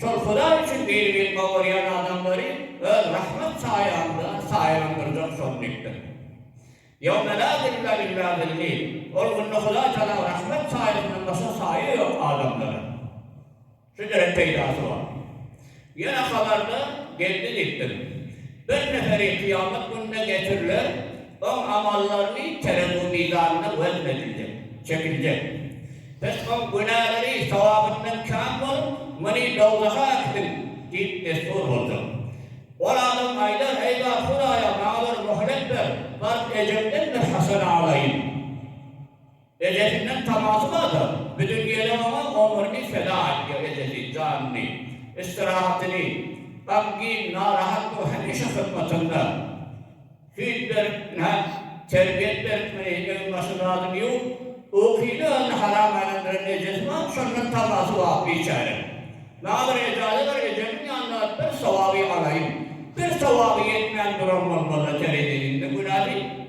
Şol Hudaý üçin dini bilip owaýan adamlary Öz rahmet saýaňda saýalandyrjak şol mekdep. Ýewme la zilla illa zilli, Ol günde Hudaý Tagalaň rahmet saýasyndan başga saýa ýok adamlara. Şunyň hem peýdasy bar. Ýene habarda geldi diýipdir. Bir neferi kyýamat gününe getiriler. Oň amallaryny terezu mizanyna wezn ediljek, çekiljek. Biz oň günäleri sogabyndan kän bolup, muny dowzaha äkidiň! diýip destur boljak. Ol adam aýdar, Eýwa, Hudaýa, maňa bir möhlet ber, baryp ejemden bir haşal alaýyn. Ejesinden tamaşy barda, biziň gelin oňa omrüni feda edýär, ejesi, janyny, istirahatyny, gamgin, narahat bolup hemişe hyzmatynda. Süýt berip, nä terbiýet berip, muny öň başy zadyny ýuwup, ukyny özüne haram aýlandyran ejesi bar, şondan tamaşy bar biçäreň. Nadir ejäde bar, ejemiň ýanynda bir sowaby alaýyn. Bir sowaby ýetmän duran bolmaz-a tereziniň, indi günä diý.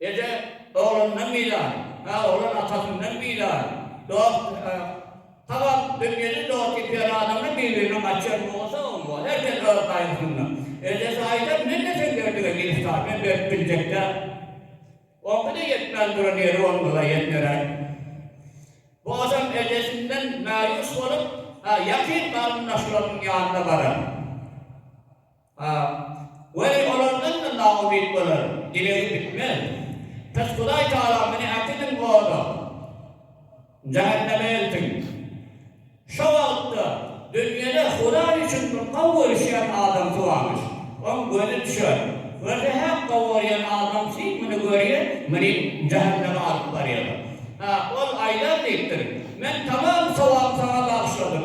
Eje oglundan bilar, a oglan atasyndan bilar. Dost, habar, dünýede dost ýitýän adamlar bir-birine gaçýan bolasagam bor. Her kes öz gaýgysynda. Ejesi aýdar, Men desem Berdiga giriftar, men berip biljek däl. Oňky-da ýetmän duran ýeri bolmaz-a ýetneräk. Bu adam ejesinden mäýus bolup, ýakyn garyndaşlarynyň ýanyna barar. A, Weli, olar ylmy naumyt bolar, dilegim bitmez. Pes Hudaý Tagalam meni äkidin oda, jähenneme eltin. Şo wagtda dünýede Hudaý üçin bir gowy görüşýän adamsy barmyş. Oň gözi düşer. Görse häk gowy görýän adam kim muny görýär, muny jähenneme alyp barýar. A, Ol aýdar diýipdir, Men tamam sowaby saňa bagyşladym.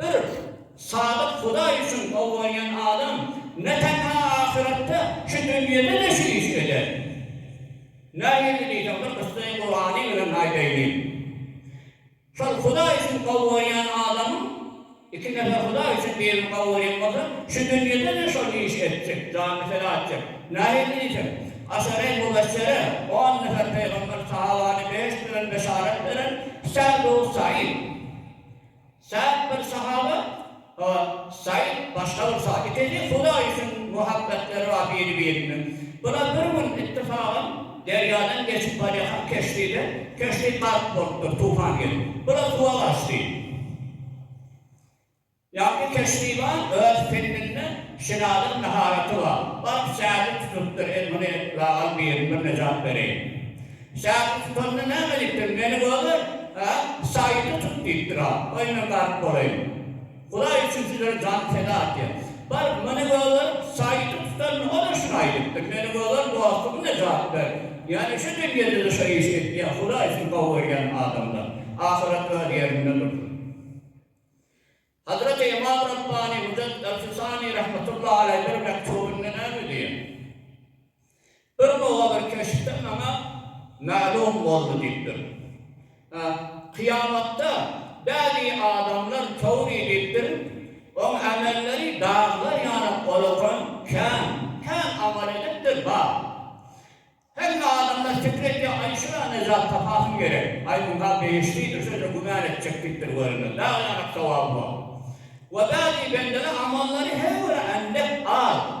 Bir sadyk Hudaý üçin gobganýan adam ne tenha ahyretde, şu dünýede-de şu işi eder. Nähili diýseň, bir kyssany Gurany bilen aýdaýyn. Şol Hudaý üçin gobganýan adamyň Iki nefes Hudaý üçin birini kabul etmeseň, şu dünýede-de şol işi etjek, janyny feda etjek. Nähili diýseň, Aşary Mubeşşere, on nefer pygamber sahabany beýik bilen beşarat beren Sa'd bun Sa'id. Sa'd bir sahaba, Sa'id başga bir sahaba. Ikisi Hudaý üçin muhabbetleri bar biri-birine. Bular bir gün ittifagam. Derýadan geçip barýarkam keşdide, keşdi gark bolupdyr, tufan gelip. Bu-da suwa gaçdy. Ýagny keşdi bar, öz pendinde şinadan maharaty bar. Baryp sähli tutupdyr, el muny lagaz birini bir nejat bereýin. Sähli tutanda näme diýipdir, meni göger, hä, saýyny tut diýipdir-a, goý men gark bolaýyn. Hudaý üçin sizler jan peda atýar. Baryp, meni göger, saýylyp tutanmy? Ol-a şuny aýdypdyr, Meni göger, dostum nejat ber. Ýöne şu dünýede-de şu işi etýär, Hudaý üçin gowy görýän adamlar, ahyret öz ýerinde dursun. Hazreti Ymam Rabbani Müjed el-Fisani rahmetullahi aleý bir mekdubynda näme diýýär? Bir nowadyr keşpde maňa mälim boldy diýipdir. Kyýamatda bäzi adamlar çowry diýipdir, oň amelleri daglar ýaly olakan, kän, kän amal edipdir, bar. Hemme adamlar pikir edýär, aý şuňa nejat tapasym gerek, aý muňa behişdidir, şeýle güman etjek diýipdir, görünmez dag ýaly sowaby bar. We bäzi bendeler amallary her biri endek az.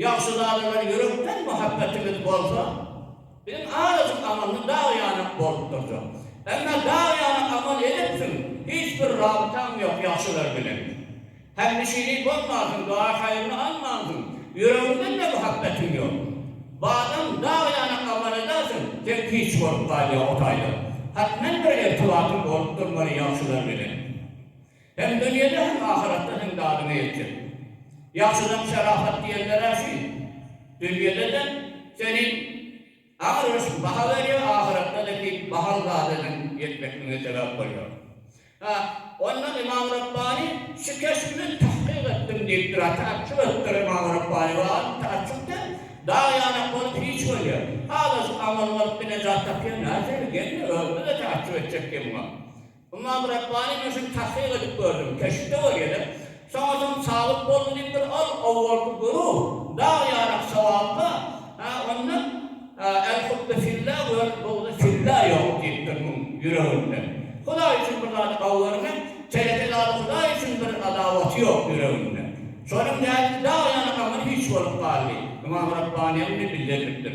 Ýagşy zadyňa ýürekden muhabbetimiz bolsa, biziň azajyk amalymyz dag ýanak bolup durjak. Emma dag ýanak amal edipsiň, hiç bir rabytaň ýok ýagşylar bilen. Hemnişini bolmansyň, duaý-haýryny almansyň, ýüregiňden-de muhabbetiň ýok. Badam dag ýanak amal edersiň, seň hiç bolup galýa o taýdan. Hatmen bir irtibatyň bolup durmaly ýagşylar bilen. Hem dünýede hem ahyratda seň dadyňa ýetjek. Ýagşydan şerafat diýenler-ä şu. Dünýede-de seni agyr ösüp baha berýär, ahyratda-da ki bahaly zada seň ýetmekligiňe sebäp bolýar. Ha, onda Ymam Rabbani şu keşbi men tahkyk etdim diýipdir. Ha, taaçjup edipdir Ymam Rabbani. Wagym taaçjup däl. Dag ýanak bolup hiç bolýar. Halas amaly bolup-da nejat tapýar. Nädip şeýle gelýär? Özümi-de taaçjup etjek diýen muňa. Ymam Rabbani men şuny tahkyk edip gördüm, keşpde bolýa dek, soňadan sabyt boldy diýipdir, ol owalky güruh dag ýarak sogapka, ha onda el hubbe filla we el bugde filla ýok diýipdir muň ýüreginde. Hudaý üçin bir zady gowy görmek, teleke zady Hudaý üçin bir adawaty ýok ýüreginde. Şonuň däl ki dag ýanak aňyr hiç bolup galdy. Ymam Rabbaniýa muny bildirlipdir.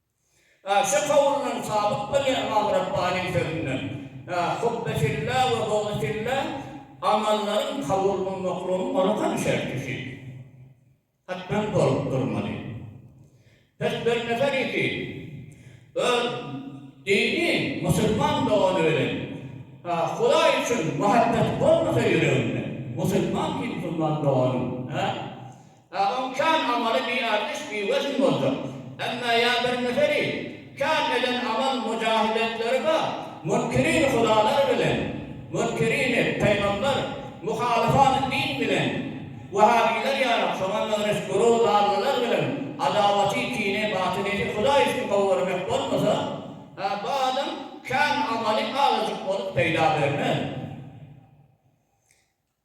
Şu kowuldan sabyt bolýar Ymam Rabbanyň sözünden, Hubby fillah we bugdy fillah amallaryň kabul bolmaklygynyň orkan şertisi, hatdan, bolup durmaly. Pes bir nefer iki öz dini musulman dogany bilen Hudaý üçin muhabbeti bolmasa ýüreginde, musulman kim musulman doganyň? Agam kän amaly bi artiş bi wezn boljak emme ýa bir neferi kän eden amal mujahidetleri bar munkirin hudalar bilen munkirini peýgamber muhalifan din bilen wahabiler ýarap şoňa meňriş guru darlylar bilen adawaty kini batyneti hudaý üçin gowy görmek bolmasa Hä bu adam kän amaly azajyk bolup peýda bermez.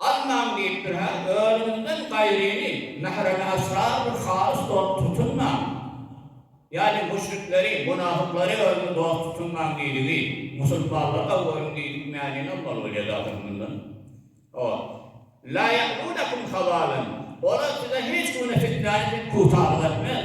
Almaň diýipdir hä, özüňden gaýryny mähremi esrar bir halys dost tutunmaň. Ýani müşrikleri, munafyklary özüňe dost tutunmaň diýdigi, musulmanlarga görüň diýdik mäni almaly bolýady ahyry mundan. Hawa. La ýa'lunekum habalan. Olar size hiç günde fitnäni siz pugtalyk etmez.